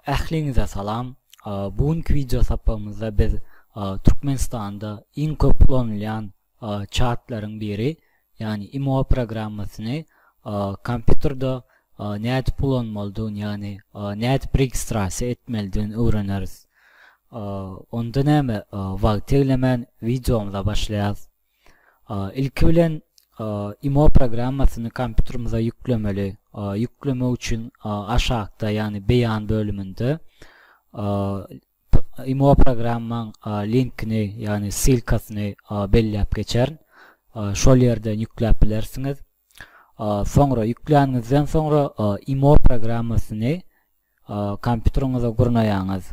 Ähliňize salam. Bu günki wideo sapagymyzda biz Türkmenistanda iň köp ulanylýan çatlaryň biri, ýagny imo programmasyny kompýuterde nädip ulanmalydygyny, ýagny nädip registrasiýa etmelidigini öwreneris. Onda näme, wagty eglemän wideomyza başlaýarys. Ilki bilen imo programmasyny kompýuterimize ýüklemeli. Ýüklemek üçin aşakda, ýagny beýan bölüminde imo programmaň linkini, ýagny ssylkasyny belläp geçerin. Şol ýerden ýükläp bilersiňiz. Soňra ýükläniňizden soňra imo programmasyny kompýuteriňize gurnaýaňyz.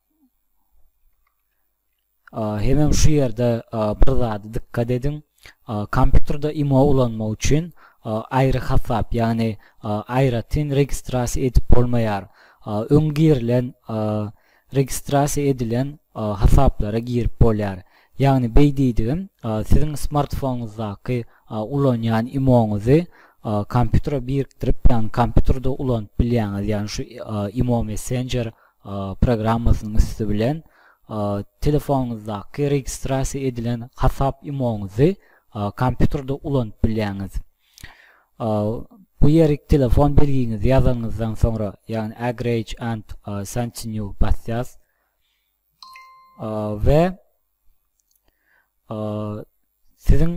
Hemem şu ýerde bir zada dykgat ediň. Kompýuterde imo ulanmak üçin aýry hasap, ýagny aýratyn registrasiýa edip bolmaýar. Öň girilen, registrasiýa edilen hasaplara girip bolýar. Ýagny beý diýdigim, siziň smartfonuňyzdaky ulanýan imoňyzy kompýutere birikdirip, ýagny kompýuterde ulanyp bilýäňiz, ýagny şu imo messenjer programmasynyň üsti bilen telefonyňyzdaky registrasiýa edilen hasap imoňyzy kompýuterde ulanyp bilýäňiz. Bu ýerik telefon belgiňizi ýazanyňyzdan soňra, ýagny agrage and continue basýas we Siziň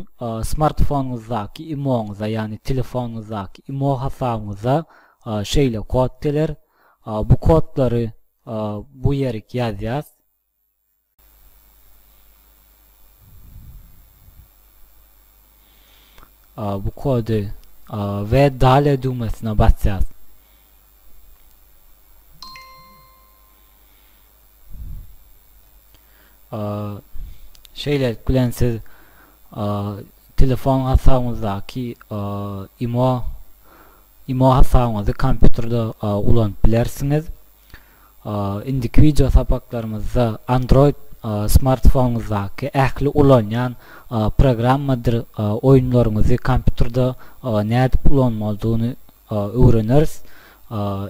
smartfonyňyzdaky imoňyza, ýagny telefonyňyzdaky imo hasabyňyza şeýle kod geler. Bu kodlary bu ýerik ýazýas. Bu kody we dale düwmesine basýas. Şeýlelik bilen siz telefon hasabyňyzdaky imo imo hasabyňyzy kompýuterde ulanyp bilersiňiz. Indiki wideo sapaklarymyzda Android smartfonyňyzdaky ähli ulanýan programmadyr oýunlaryňyzy kompýuterde nädip ulanmalydygyny öwreneris.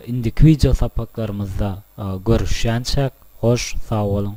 Indiki wideo sapaklarymyzda görüşýänçäk hoş sag boluň.